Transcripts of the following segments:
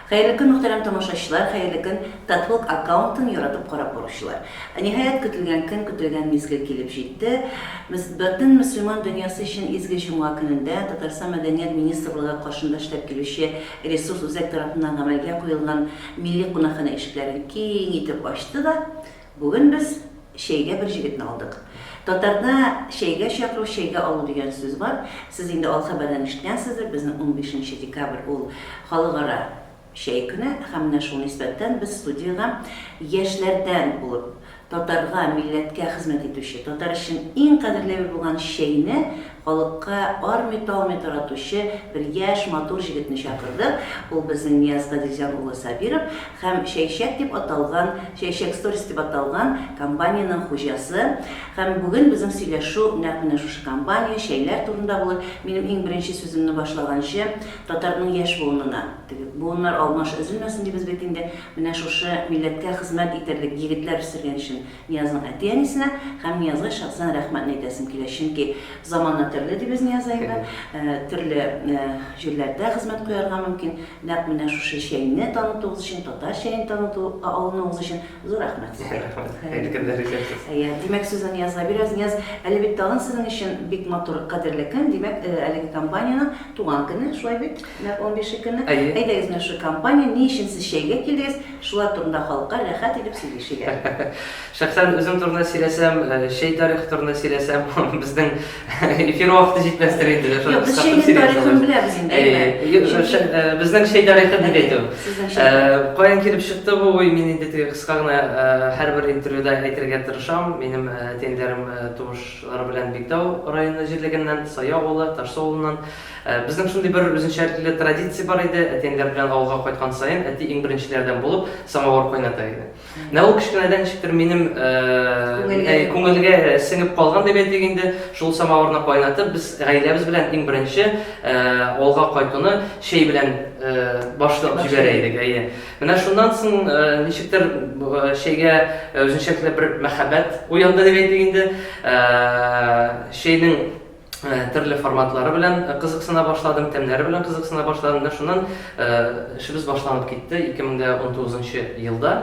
Хәерле көн, мөхтәрәм тамашачылар, хәерле көн, Татвлог аккаунтын яратып карап баручылар. Ниһаять, көтелгән көн, көтелгән мизгел килеп җитте. Мөс бөтен мөселман дөньясы өчен изге җомга көнендә Татарстан Мәдәният министрлыгы каршында эшләп килүче Ресурс-үзәк тарафыннан гамәлгә куелган милли кунакханә ишекләрен киң итеп ачты да, Бүген без чәйгә бер җегетне алдык. Татарда чәйгә чакыру, чәйгә алу дигән сүз бар. Сез инде ал хәбәрдән ишеткәнсездер, безнең унбишенче декабрь ул халыкара чәй көне һәм менә шул нисбәттән без студиягә яшьләрдән булып, татарга, милләткә хезмәт итүче, татар өчен иң кадерләве булган чәйне Халыкка армый-талмый таратучы бер яшь, матур җегетне чакырдык. Ул безнең Нияз Гаделҗан улы Сабиров һәм Чәйчәк дип аталган, Чәйчәк Сторис дип аталган компаниянең хуҗасы. Һәм бүген безнең сөйләшү нәкъ менә шушы компания, чәйләр турында булыр. Минем иң беренче сүземне башлаганчы, татарның яшь буынына, теге буыннар алмаш өзелмәсен дибез бит инде, менә шушы милләткә хезмәт итәрлек егетләр үстергән өчен Ниязның әти-әнисенә һәм Ниязга шәхсән рәхмәтне әйтәсем килә, чөнки замана төрле, ди без Нияз әйбә, төрле җирләрдә хезмәт куярга мөмкин. Нәкъ менә шушы чәйне танытуыгыз өчен, татар чәен таныту алынуыгыз өчен зур рәхмәт сезгә. Рәхмәт. Әйткәннәр икән сез. Әйе, димәк сүзне Ниязга бирәбез. Нияз, әле бит тагын сезнең өчен бик матур, кадерле көн, димәк, әлеге компаниянең туган көне, шулай бит? Нәкъ унбише көне. Әйе. Әйдәгез менә шушы компания, ни өчен сез чәйгә килдегез? Шулар турында халыкка рәхәт итеп сөйлишегә. Шәхсән үзем турында сөйләсәм, чәй тарихы турында сөйләсәм, безнең эфир вакыты җитмәстер инде. Юк, без чәйнең тарихын беләбез инде, әйе. Безнең чәй тарихы дип әйтү. Каян килеп чыкты бу уй? Мин инде теге кыска гына һәрбер интервьюда әйтергә тырышам. Минем әти-әниләрем туышлары белән Биктау районы җирлегеннән, Сай авылы, Ташсу авылыннан. Безнең шундый бер үзенчәлекле традиция бар иде, әти-әниләр белән авылга кайткан саен, әти иң беренчеләрдән булып самавыр кайната иде. Менә ул кечкенәдән ничектер минем күңелгә сеңеп калган дип әйтик инде, шул самавырны кайнатып, без гаиләбез белән иң беренче авылга кайтуны чәй белән башлап җибәрә идек. Әйе. Менә шуннан соң ничектер чәйгә үзенчәлекле бер мәхәббәт уянды дип әйтик инде. Чәйнең Э, төрле форматлары белән э, кызыксына башладым, тәмнәре белән кызыксына башладым. Менә шуннан э, эшебез башланып китте 2019 елда.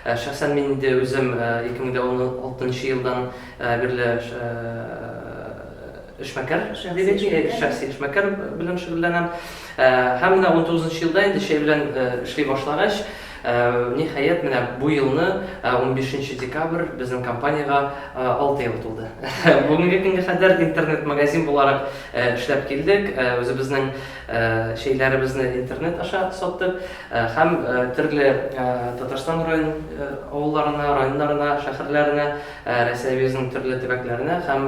Шәхсән мин инде үзем 2016 елдан бирле эшмәкәр, шәхси эшмәкәр белән шөгыльләнәм. Һәм менә 19 елда инде чәй белән эшли башлагач, Ниһаять, менә бу елны, унбишенче декабрь, безнең компаниягә алты ел тулды. Бүгенге көнгә кадәр интернет-магазин буларак эшләп килдек. Үзебезнең чәйләребезне интернет аша саттык һәм төрле Татарстан авылларына, районнарына, шәһәрләренә, Рәсәебезнең төрле төбәкләренә һәм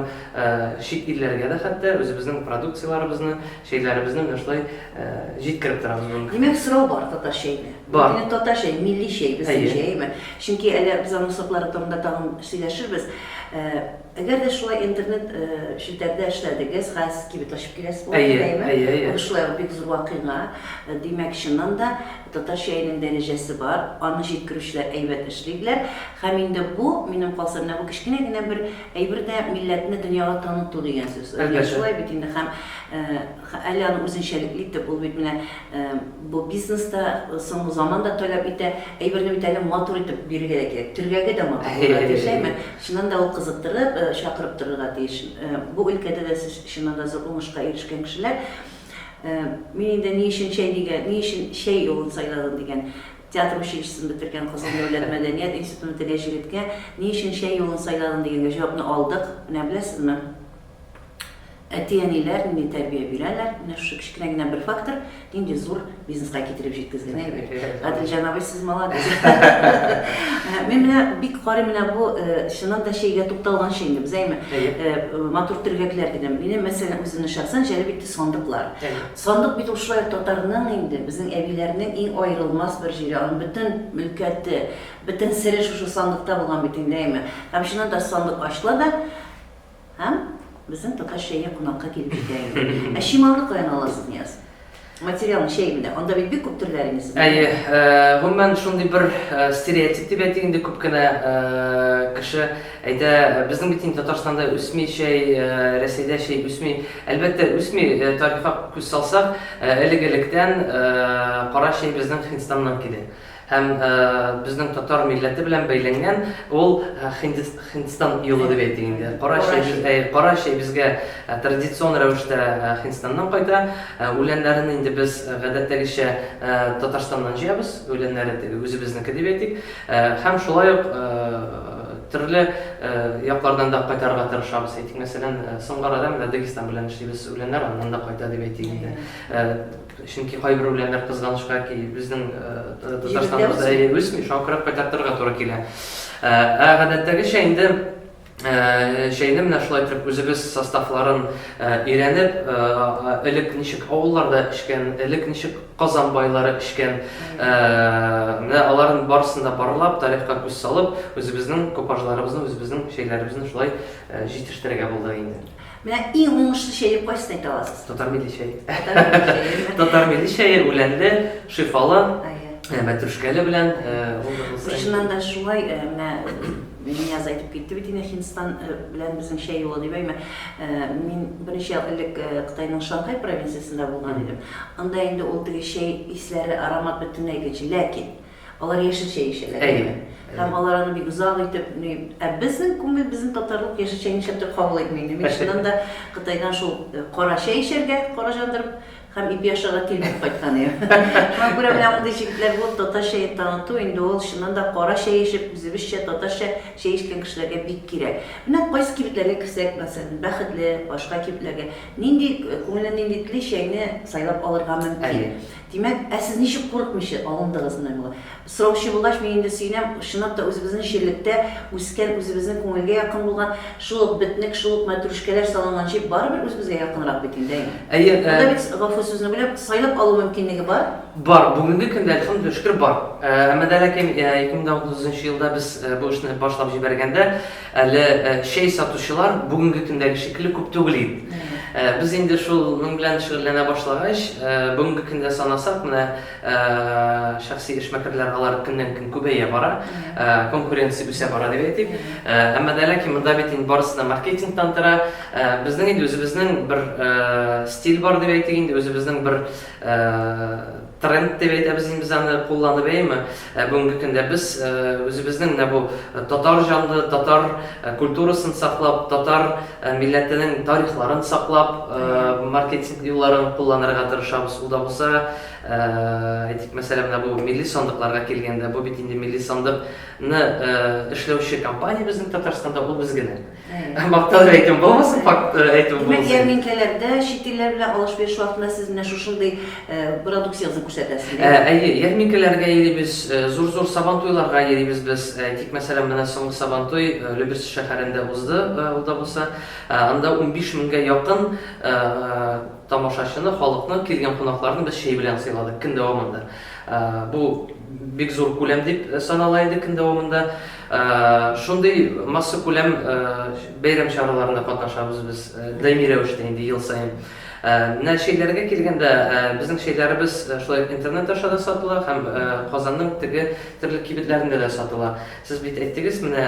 чит илләргә дә хәтта үзебезнең продукцияләребезне, чәйләребезне менә шулай Җиткереп торам мин. Димәк, сорау бар татар чәенә. Бар. Минем татар чәй, милли чәй, безнең чәйме? Чөнки әле без аның сортлары турында тагын сөйләшербез. Әгәр дә шулай интернет челтәрдә эшләдегез, газ кибет ачып киләсез булып, әйеме? Әйе, әйе. Ул шулай ук бик зур вакыйга. Димәк, чыннан да татар чәенең дәрәҗәсе бар, аны җиткерүчеләр әйбәт эшлиләр. Һәм инде бу, минем калса, менә бу кечкенә генә бер әйбер дә милләтне дөньяга таныту дигән сүз. Әлбәттә. Шулай бит инде һәм Ха, әле аны үзенчәлекле итеп, ул бит менә бу бизнес та, соңгы заман да таләп итә, әйберне бит әле матур итеп бирергә дә кирәк, төргәге дә матур булырга тиеш, әйме? Чыннан да ул кызыктырып, чакырып торырга тиеш. Бу өлкәдә дә сез, чыннан да, зур уңышка ирешкән кешеләр. Мин инде ни өчен чәй дигән, ни өчен чәй юлын сайладың дигән театр училищесын бетергән Кызыл дәүләт мәдәният институтын бетергән җегеткә ни өчен чәй юлын сайладың дигәнгә җавапны алдык. Менә беләсезме? Әти-әниләр нинди тәрбия бирәләр, менә шушы кечкенә генә бер фактор нинди зур бизнеска китереп җиткезгән, әйе бит? Гаделҗан абый, сез молодец. Мин менә бик карыйм менә бу чыннан да чәйгә тукталганчы инде без әйме матур төргәкләр дидем. Минем мәсәлән үземне шәхсән җәлеп итте сандыклар. Сандык бит ул шулай татарның инде, безнең әбиләрнең иң аерылмас бер җире, аның бөтен мөлкәте, бөтен сере шушы сандыкта булган бит инде әйме. Һәм чыннан да сандык ачыла да, Һәм безнең татар чәйгә кунакка килеп җитә инде. Ә чималны каян аласыз, Нияз? Материалны чәй менә. Анда бит бик күп төрләр инде сездә. Әйе, э, гомумән шундый бер э, стереотип дип әйтик инде күп кенә э, кеше әйтә, безнең бит инде Татарстанда үсми чәй, э, Рәсәйдә чәй үсми. Әлбәттә, үсми, э, тарихка күз салсак, э, элек-электән э, кара чәй безнең Һиндстаннан килә. Һәм безнең татар милләте белән бәйләнгән ул Һиндстан юлы дип әйтик инде. Кара чәй, кара чәй безгә традицион рәвештә Һиндстаннан кайта. Үләннәрен инде без гадәттәгечә Татарстаннан җыябыз. Үләннәре теге үзебезнеке дип әйтик. Һәм шулай ук төрле яклардан да кайтарырга тырышабыз. Әйтик, мәсәлән, соңгы арада менә Дагестан белән эшлибез. Үләннәр аннан да кайта дип әйтик инде. Чөнки кайбер үләннәр кызганычка ки безнең Татарстаныбызда әйе үсми, шуңа күрә кайтартырга туры килә. Ә гадәттәгечә инде чәйне менә шулай итеп үзебез составларын өйрәнеп, элек ничек авылларда эчкән, элек ничек Казан байлары эчкән, менә аларның барысын да барлап, тарихка күз салып, үзебезнең купажларыбызны, үзебезнең чәйләребезне шулай җитештерергә булдык инде. Менә иң уңышлы чәйне кайсын әйтә аласыз? Татар милли чәй. Татар милли чәй, үләнле, шифалы, э, мәтрүшкәле белән. Чыннан э, да шулай, э, менә Нияз айтып китте бит инде Хиндстан э, белән безнең чәй юлы дип әйме. Э, мин берничә ел элек э, Кытайның Шанхай провинциясендә булган идем. Анда инде ул теге чәй исләре, аромат бөтенләй икенче. Ләкин Алар яшелчә ишәләр. Әйе. Һәм алар аны бик озак итеп, ни, ә безнең күңел, безнең татарлык яшелчә нишләп тә кабул итми инде. Мин чыннан да Кытайдан шул э, кара чәй ишәргә, кара җандырып, һәм ипи ашарга тилмереп кайткан идем. Шуңа күрә менә мондый җегетләр булып татар чәен таныту инде ул чыннан да кара чәй ишеп, үзебезчә татарча чәй ишкән кешеләргә бик кирәк. Менә кайсы кибетләргә керсәк, мәсәлән, Бәхетле, башка кибетләргә, нинди э, күңеле нинди тели чәйне сайлап алырга мөмкин. Әйе. Димәк, ә сез ничек курыкмыйча алындыгыз менә моңа? Сораучы булгач, мин инде сөенәм, чынлап та үзебезнең җирлектә үскән, үзебезнең күңелгә якын булган, шул ук бетнек, шул ук мәтрүшкәләр салынган җир барыбер үзебезгә якынрак бит инде, әйеме? Әйе, ә. Монда бит, гафу сүзне бүләм, сайлап алу мөмкинлеге бар? Бар, бүгенге көндә, әлхәмдүлилләһ шөкер, бар. Әмма дә ләкин, 2039 елда без бу эшне башлап җибәргәндә, Әле чәй сатучылар бүгенге көндәге шикелле күп түгел иде. Без инде шуның белән шөгыльләнә башлагач, бүгенге көндә санасак, менә шәхси эшмәкәрләр алар көннән-көн күбәя бара, конкуренция үсә бара дип әйтик. Әмма дә ләкин монда бит инде барысы да маркетингтан тора. Безнең инде үзебезнең бер стиль бар дип әйтик инде, үзебезнең бер Тренд дип әйтәбез инде без аны, кулланып әйеме? Ә бүгенге көндә без үзебезнең менә бу татар җанлы, татар культурасын саклап, татар милләтенең тарихларын саклап, маркетинг юлларын кулланырга тырышабыз. Ул да булса, әйтик, мәсәлән, менә бу милли сандыкларга килгәндә, бу бит инде милли сандыкны эшләүче компания безнең Татарстанда, ул без генә. Мактанып әйтүем булмасын, факт э, әйтүем булмасын. Димәк, ярминкәләрдә чит илләр белән алыш-биреш вакытында сез менә шушындый э, продукцияне күрсәтәсез. Ә, әйе, ярминкәләргә йөрибез, э, зур-зур сабантуйларга йөрибез без. Тик мәсәлән, менә соңгы сабантуй Люберцы шәһәрендә узды, ул да булса, анда 15 меңгә якын тамашачыны, халыкны, килгән кунакларны без чәй белән сыйладык көн дәвамында. Бу бик зур күләм дип санала иде көн дәвамында. Шундый массакүләм бәйрәм чараларында катнашабыз без даими рәвештә инде ел саен. Менә чәйләргә килгәндә, безнең чәйләребез шулай ук интернет аша да сатыла һәм Казанның теге төрле кибетләрендә дә сатыла. Сез бит әйттегез, менә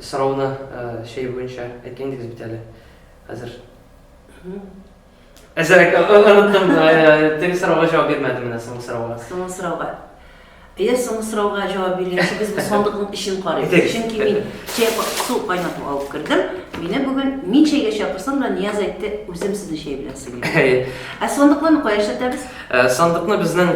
сорауны чәй буенча әйткән идегез бит әле, хәзер. Әзрәк оныттым, теге сорауга җавап бирмәдем менә соңгы сорауга. Соңгы сорауга. Әгәр соңгы сорауга җавап биргәнче без бу сандыкның эчен карыйбыз. Чөнки мин чәй су кайнатып алып кердем. Мине бүген мин чәйгә чакырсам да Нияз әйтте, үзем сезне чәй белән сыйлыйм. Ә сандыкны кая эшләтәбез? Сандыкны безнең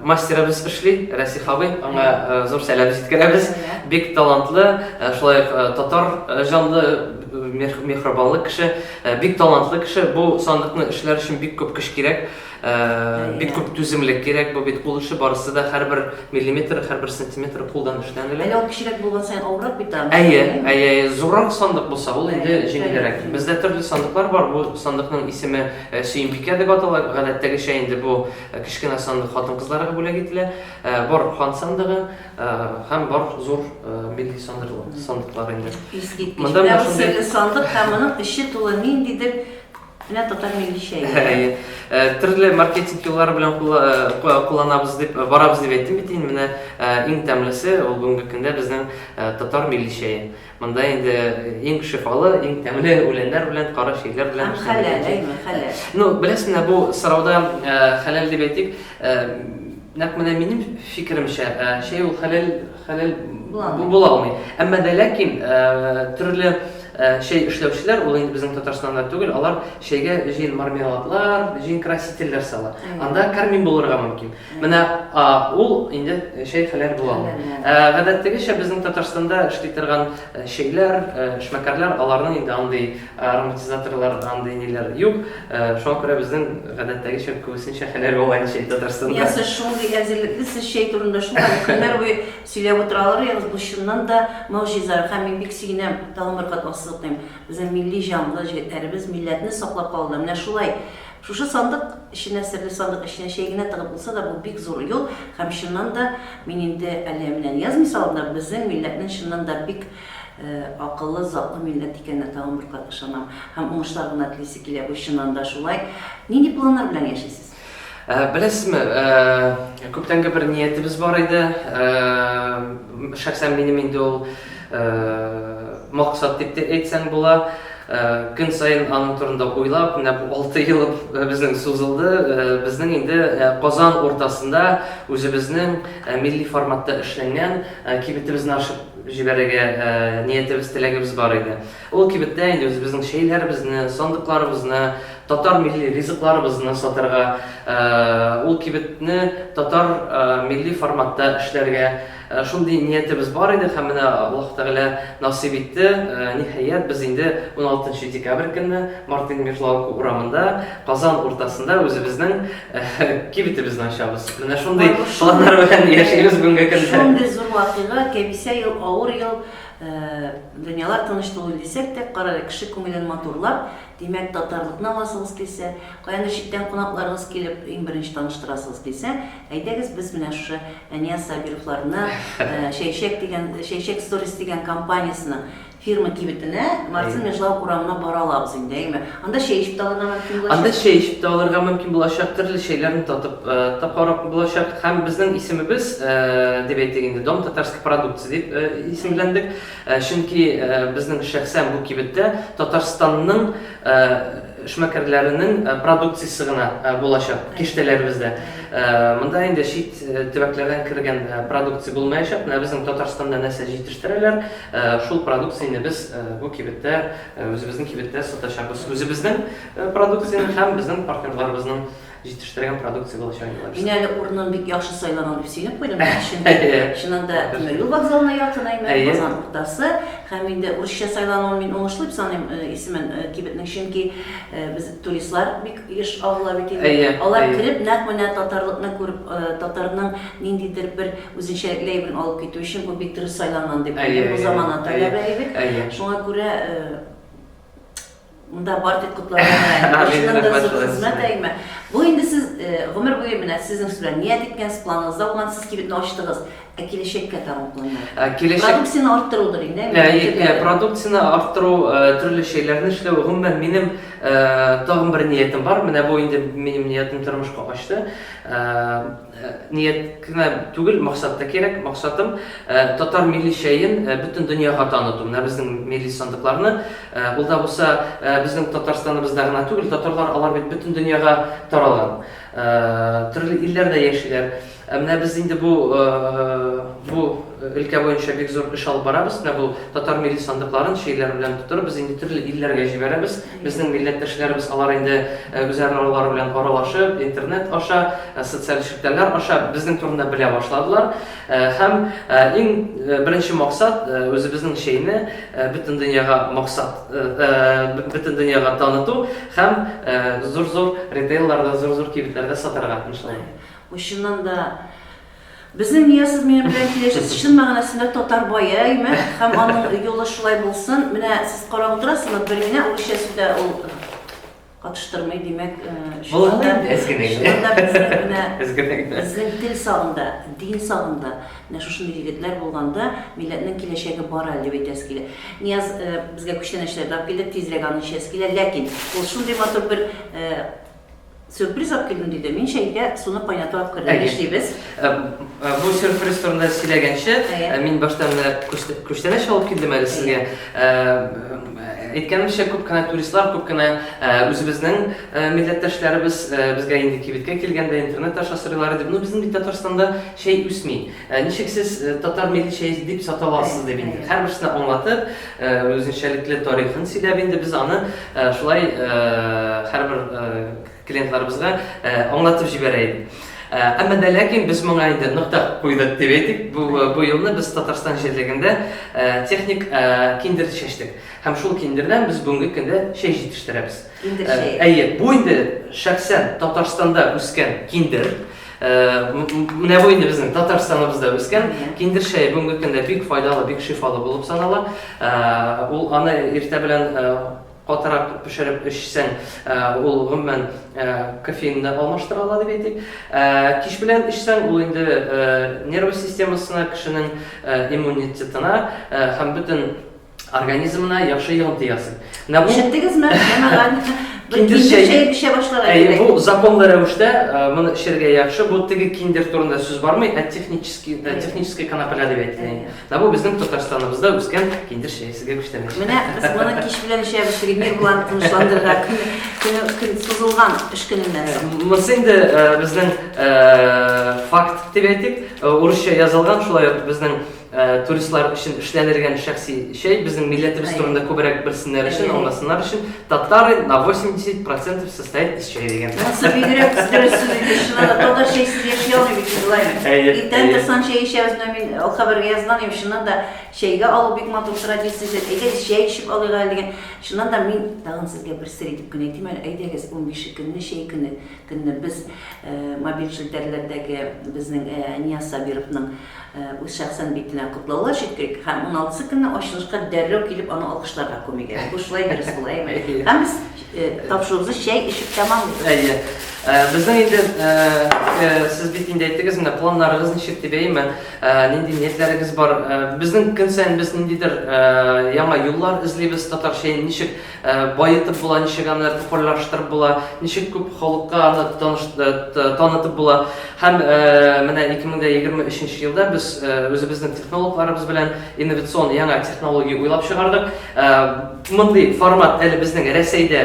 мастерыбыз эшли, Расих абый. Аңа зур сәлам җиткерәбез. Бик талантлы, шулай татар җанлы мехрибанлы кеше. Э, бик талантлы кеше бу сандыкны эшләр өчен бик күп көч кирәк э, бик күп түземлек кирәк бу бит кул эше барысы да һәрбер миллиметр һәрбер сантиметр кулдан эшләнелә әле ул кечерәк булган саен авыррак бит аны әйе әйе әйе зуррак сандык булса ул инде җиңелрәк бездә төрле сандыклар бар бу сандыкның исеме э, сөембикә дип атала гадәттәгечә инде бу кечкенә сандык хатын кызларга бүләк ителә бар хан сандыгы Һәм бар зур милли сандыклар инде. Монда менә шундый сандык һәм моның эче тулы ниндидер менә татар милли чәе. Төрле маркетинг юллары белән кулланабыз дип, барабыз дип әйттем бит инде. Менә иң тәмлесе ул бүгенге көндә безнең татар милли чәе. Монда инде иң шифалы, иң тәмле үләннәр белән, кара чирләр белән. Һәм хәләл, әйме, хәләл. Ну, беләсең лә, бу сорауда э, хәләл дип әйтик, э, нәкъ менә минем фикеремчә, э, чәй ул хәләл, хәләл була алмый. Әмма дә ләкин төрле чәй эшләүчеләр, ул инде безнең Татарстанда түгел, алар чәйгә җин мармеладлар, җин красительләр сала. Анда кармин булырга мөмкин. Менә ул инде чәй хәләл була. Гадәттәгечә безнең Татарстанда эшли торган чәйләр, эшмәкәрләр, аларның инде андый ароматизаторлар, андый ниләр юк. Шуңа күрә безнең гадәттәгечә күбесенчә хәләл була инде чәй Татарстанда. Менә сез шундый әзерлекле, сез чәй турында шулай көннәр буе сөйләп утыра алыр идегез, бу чыннан да могҗиза. Һәм мин бик сөенәм, тагын бер кат ассызыклыйм, безнең милли җанлы җегетләребез милләтне саклап калуда менә шулай Шушы сандык эченә, серле сандык эченә чәй генә тыгып булса да, бу бик зур юл һәм чыннан да, мин инде әле менә язмый салам да, безнең милләтнең чыннан да бик акыллы, затлы милләт икәненә тагын бер кат ышанам һәм уңышлар гына телисе килә, бу чыннан да шулай. Нинди планнар белән яшисез? Беләсезме, күптәнге бер ниятебез бар иде, шәхсән минем инде ул максат дип тә әйтсәң була. Көн саен аның турында уйлап, менә бу алты ел безнең сузылды. Безнең инде Казан уртасында үзебезнең милли форматта эшләнгән кибетебезне ачып җибәрергә ниятебез, теләгебез бар иде. Ул кибеттә инде үзебезнең чәйләребезне, сандыкларыбызны, татар милли ризыкларыбызны сатарга, ул кибетне татар милли форматта эшләргә, Шундый ниятебез бар иде һәм менә Аллаһ Тәгалә насыйп итте, ниһаять, без инде уналтынчы декабрь көнне Мартин Мишлауку урамында, Казан уртасында үзебезнең кибетебезне ачабыз. Менә шундый планнар белән яшибез бүгенге көндә. Шундый зур вакыйга, кәбисә ел, авыр ел, дөньялар тыныч түгел дисәк тә, карале, кеше күңелен матурлап, димәк, татарлыкны аласыгыз килсә, каяндыр читтән кунакларыгыз килеп, иң беренче таныштырасыгыз килсә, Әйдәгез без менә шушы Әнияз Сабировларны Чәйшәк дигән, Чәйшәк сторис дигән компаниясенең фирма кибетенә, Марцин Межлау урамына бара алабыз инде, әйеме? Анда чәй эчеп тә алырга мөмкин булачак. Анда чәй эчеп тә алырга мөмкин булачак, төрле чәйләрне татып та карап булачак. Һәм безнең исемебез, дип әйтик инде, Дом татарской продукции дип исемләндек. Чөнки безнең шәхсән бу кибеттә Татарстанның эшмәкәрләренең продукциясе генә булачак киштәләребездә. Монда инде чит төбәкләрдән кергән продукция булмаячак. Менә безнең Татарстанда нәрсә җитештерәләр, шул продукцияне без бу кибеттә, үзебезнең кибеттә сатачакбыз. Үзебезнең продукцияне һәм безнең партнерларыбызның. Җитештергән продукция булачак инде алар. Мин әле урынын бик яхшы сайлаган дип сөйләп куйдым. Чыннан да тимер юл вокзалына якын әйме, Казан уртасы. Һәм инде урысча сайлануын мин уңышлы дип саныйм э, исемен э, кибетнең, чөнки э, без туристлар бик еш агыла бит инде. Алар кереп, нәкъ менә татарлыкны күреп, татарның ниндидер бер үзенчәлекле әйберен алып китү өчен бу бик дөрес сайланган дип уйлыйм. Бу замана таләбе әйбер. Шуңа күрә Монда бар дип котларга Башыннан да зур хезмәт әйме. Бу инде сез гомер буе менә сезнең сүз белән ният иткәнсез, планыгызда булган, сез кибетне ачтыгыз. Ә киләчәккә тагын планнар? Киләчәк... Продукцияне арттырудыр инде. Әйе, продукцияне арттыру, төрле шәйләрне эшләү. Гомумән, минем тагын бер ниятем бар. Менә бу инде минем ниятем тормышка ачты. Ният кенә түгел, максат та кирәк. Максатым, татар милли чәен бөтен дөньяга таныту. Менә безнең милли сандыкларны. Ул да булса, безнең Татарстаныбызда гына түгел, татарлар алар бит бөтен дөньяга таралган. Төрле илләрдә яшиләр. Ә менә без инде бу бу өлкә буенча бик зур эш алып барабыз. Менә бу татар милли сандыкларын чәйләр белән тутырып, без инде төрле илләргә җибәрәбез. Безнең милләттәшләребез алар инде үзаралары белән аралашып, интернет аша, социаль челтәрләр аша безнең турында белә башладылар. Һәм иң беренче максат, үзебезнең чәйне бөтен дөньяга максат, бөтен дөньяга таныту һәм зур-зур ритейлларда, зур-зур кибетләрдә сатарга, иншалла. Ул чыннан да. Безнең Нияз минем белән килешәсе чын мәгънәсендә татар бае, әйме? Һәм аның юлы шулай булсын. Менә сез карап утырасызмы, бер генә урысча сүз дә ул катыштырмый, димәк, чыннан да безнең тел сагында, дин сагында менә шушындый егетләр булганда, милләтнең киләчәге бар әле дип әйтәсе килә. Нияз безгә күчтәнәчләрне алып килде, тизрәк аны эчәсе килә, ләкин ул шундый матур бер Сюрприз алып килдем, диде. Мин чәйгә суны кайнату алып кердем. Әйе. Нишлибез? Ә, ә, Бу сюрприз турында сөйләгәнче, Әйе. ә, мин башта менә күчтә- күчтәнәч алып килдем әле сезгә. Ә, Әйткәнемчә, күп кенә туристлар, күп кенә ә, үзебезнең ә, милләттәшләребез ә, безгә инде кибеткә килгәндә интернет аша сорыйлар иде. Ну, безнең бит Татарстанда чәй үсми. Ә ничек сез татар милли чәе дип сата аласыз? дип инде һәрберсенә аңлатып, үзенчәлекле тарихын сөйләп инде без аны шулай һәрбер клиентларыбызга аңлатып җибәрә идек. Әмма дә ләкин без моңа инде нокта куйдык дип әйтик. Бу бу елны без Татарстан җирлегендә техник киндер чәчтек. Һәм шул киндердән без бүгенге көндә чәй җитештерәбез. Киндер чәе. Әйе, бу инде шәхсән Татарстанда үскән киндер. Менә бу инде безнең Татарстаныбызда үскән киндер чәе бүгенге көндә бик файдалы, бик шифалы булып санала. Ул аны иртә белән катырак пешереп эчсәң, ул гомумән кофеинны алмаштыра ала дип әйтик. Кич белән эчсәң, ул инде нервы системасына, кешенең иммунитетына һәм бөтен организмына яхшы йогынты ясый. Менә бу Ишеттегезме? Ямаган. Киндер чәе эчә башларга кирәк. Бу законлы рәвештә э, моны эчәргә яхшы. Бу теге киндер турында сүз бармый, ә технический э, технический канапля дип әйтелгән. Менә бу безнең Татарстаныбызда үскән киндер чәе сезгә күчтәнәчәк. Менә без моны кич белән эчәбез, Римир булан тынычландырырга көне көн сузылган эш көненнән соң. Э, монысы инде безнең факт дип әйтик, урысча язылган, шулай ук безнең Туристлар өчен эшләнергән шәхси чәй, безнең милләтебез турында күбрәк белсеннәр өчен, аңласыннар өчен, татары на 80% состоит из чая дигән. Монысы бигрәк дөрес сүз иде, чыннан да, татар чәйсез яши алмый бит инде Лайнер. Әйе. Иртән торсаң чәй эчәбез, менә мин ул хәбәргә язган идем, чыннан да чәйгә алу бик матур традиция, әйдәгез чәй эчеп алыйк әле дигән. Чыннан да мин тагын сезгә бер сер әйтеп кенә әйтим әле, әйдәгез, унбише көнне чәй көне, көнне без мобиль челтәрләрдәге безнең Нияз Сабировның Үз шәхсән битенә котлаулар җиткерик һәм уналтысы көнне ачылышка дәррәү килеп аны алкышларга күмик. Бу шулай дөрес була, әйеме? Һәм без тапшыруыбызны чәй эчеп тәмамлыйбыз. Әйе. Безнең инде сез бит инде әйттегез инде, планнарыгыз ничек дип, әйеме? Нинди ниятләрегез бар? Безнең көн саен без ниндидер яңа юллар эзлибез, татарча ничек Ә баетып була, ничек аны популярлаштырып була, ничек күп халыкка аны танытып була. Һәм менә 2023 елда без үзебезнең технологларыбыз белән инновацион яңа технология уйлап чыгардык. Мондый формат әле безнең Рәсәйдә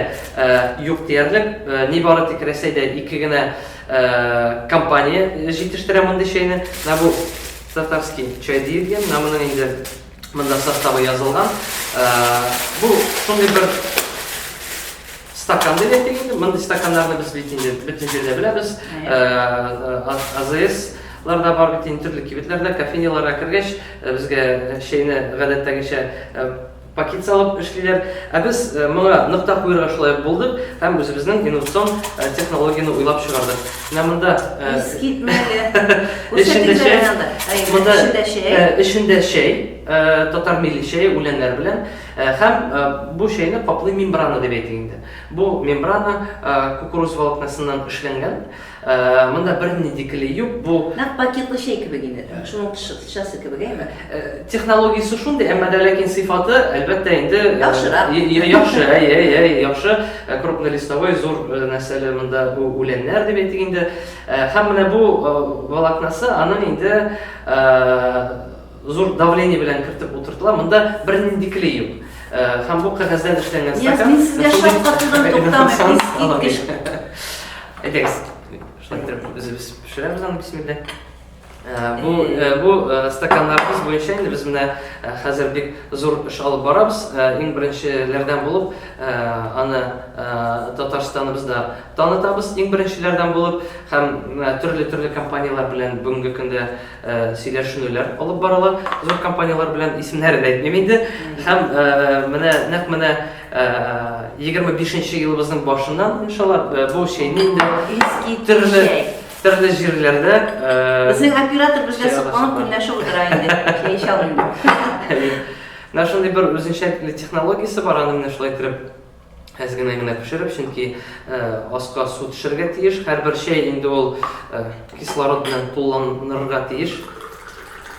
юк диярлек. Нибары тик Рәсәйдә ике генә компания җитештерә мондый чәйне. Менә бу татарский чай диелгән. Менә моның инде Монда составы язылган. Бу шундый бер стакан дип әйтик инде. Мондый стаканнарны без бит инде бөтен җирдә беләбез. АЗС ларда бар бит инде төрле кибетләрдә, кофейняларга кергәч, безгә чәйне гадәттәгечә пакет салып эшлиләр. Ә без моңа нокта куярга шулай булдык һәм үзебезнең инновацион технологияне уйлап чыгардык. Менә монда искитмәле. Эчендә чәй. Монда эчендә чәй, татар милли чәе үләннәр белән һәм бу чәйне каплый мембрана дип әйтик инде. Бу мембрана кукуруз волокнасыннан эшләнгән. Монда бернинди клей юк. Бу нәкъ пакетлы чәй кебек инде. Шуның тышы. Часы кебек, әйме? Технологиясе шундый, әмма дә ләкин сыйфаты, әлбәттә, инде яхшырак. Яхшы, әй, әй, әй, яхшы. Крупнолистовой зур нәрсәле монда үләннәр дип әйтик инде. Һәм менә бу волокнасы аның инде зур давление белән кертеп утыртыла. Монда бернинди клей юк. Һәм бу кәгазьдән эшләнгән стакан. Яз, мин сезгә шаккатудан туктамыйм, искиткеч. Әйдәгез, шулай итеп, үзебез пешерәбез аны, бисмилла. Бу, бу стаканнарыбыз буенча инде без менә хәзер бик зур эш алып барабыз. Иң беренчеләрдән булып аны Татарстаныбызда танытабыз. Иң беренчеләрдән булып һәм төрле-төрле компанияләр белән бүгенге көндә сөйләшүләр алып барыла. Зур компанияләр белән исемнәрен әйтмим инде. Һәм менә нәкъ менә 25 нче елыбызның башыннан иншалла бу чәйне инде төрле Төрле җирләрдә... Безнең оператор безгә сокланып көнләшеп утыра инде. Чәй эчә алмыйм дип. Менә шундый бер үзенчәлекле технологиясе бар, аны менә шулай итеп әз генә генә пешереп, чөнки аска су төшәргә тиеш. Һәрбер чәй инде ул кислород белән тулыланырга тиеш.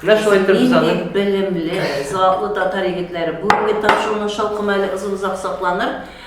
Менә шулай итеп без аны... Нинди белемле, затлы татар егетләре. Бүгенге тапшыруны шалкымы әле озын-озак сакланыр.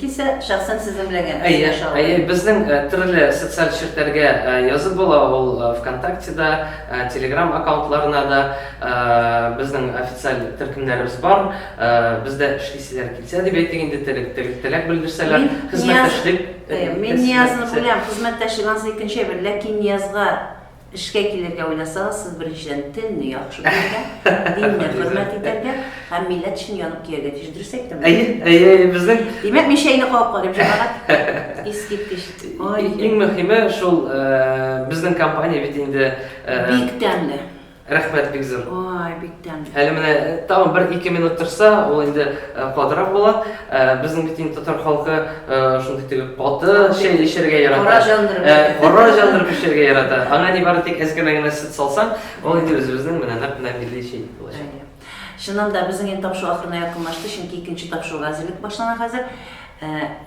Килсә, шәхсән сезнең белән генә рәсмиләшә алыр. Әйе, әйе, безнең төрле социаль челтәргә язып була ул, Вконтакте да, Телеграм аккаунтларына да, безнең официаль төркемнәребез бар, бездә эшлисезләр килсә дип әйтик инде, теләк белдерсәләр, хезмәттәшлек. Мин Ниязны беләм, хезмәттәш, анысы икенче әйбер, ләкин Ниязга Эшкә килергә уйласагыз, сез беренчедән телне яхшы белергә, динне хөрмәт итәргә һәм милләт өчен янып көяргә тиеш. Дөрес әйттемме? Әйе, әйе, әйе, безнең. Димәк, мин чәйне кабып карыйм, җәмәгать. Искиткеч. Ай, иң мөһиме шул, безнең компания бит инде. Бик тәмле. Рәхмәт, бик зур. Ай, бик Әле менә тагын бер ике минут торса, ул инде катырак була. Безнең бит инде татар халкы шундый теге каты чәй эчәргә ярата. Кара җандырып. Кара җандырып эчәргә ярата. Аңа ни бары тик әзгәмә генә сөт салсаң, ул инде үзебезнең менә нәкъ менә милли чәй булачак. Чыннан да безнең инде тапшыру ахырына якынлашты, чөнки икенче тапшыруга әзерлек башлана хәзер.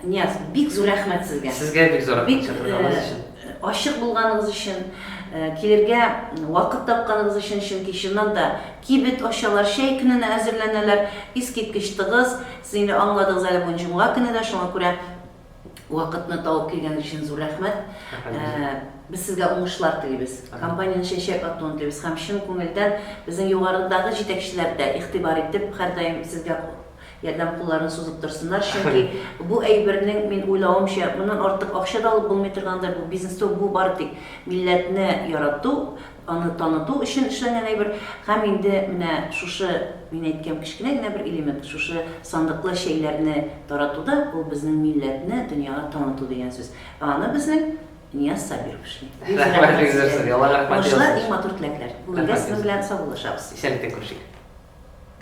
Нияз, бик зур рәхмәт сезгә. Сезгә бик зур рәхмәт чакырганыгыз өчен. Ачык булганыгыз өчен, килергә вакыт тапканыгыз өчен, чөнки чыннан да кибет ачалар, чәй көненә әзерләнәләр, искиткеч тыгыз. Сез инде аңладыгыз әле, бүген җомга көне дә, шуңа күрә вакытны табып килгәнегез өчен зур рәхмәт. Без сезгә уңышлар телибез, компаниянең чәчәк атуын телибез һәм чын күңелдән безнең югарыдагы җитәкчеләр дә игътибар итеп, һәрдаим сезгә Ярдәм кулларын сузып торсыннар, чөнки бу әйбернең, мин уйлавымча, моннан артык акча да алып булмый торгандыр, бу бизнес түгел, бу бары тик милләтне ярату, аны таныту өчен эшләнгән әйбер. Һәм инде менә шушы, мин әйткән кечкенә генә бер элемент, шушы сандыклы чәйләрне тарату да, ул безнең милләтне дөньяга таныту дигән сүз. Ә аны безнең Нияз Сабиров эшли. Бик зур Рәхмәт, бик зур сезгә. Аллага рәхмәт Уңышлар, яусын. иң матур теләкләр. Бүгенгә сезнең белән саубуллашабыз. Исәнлектән күрешик.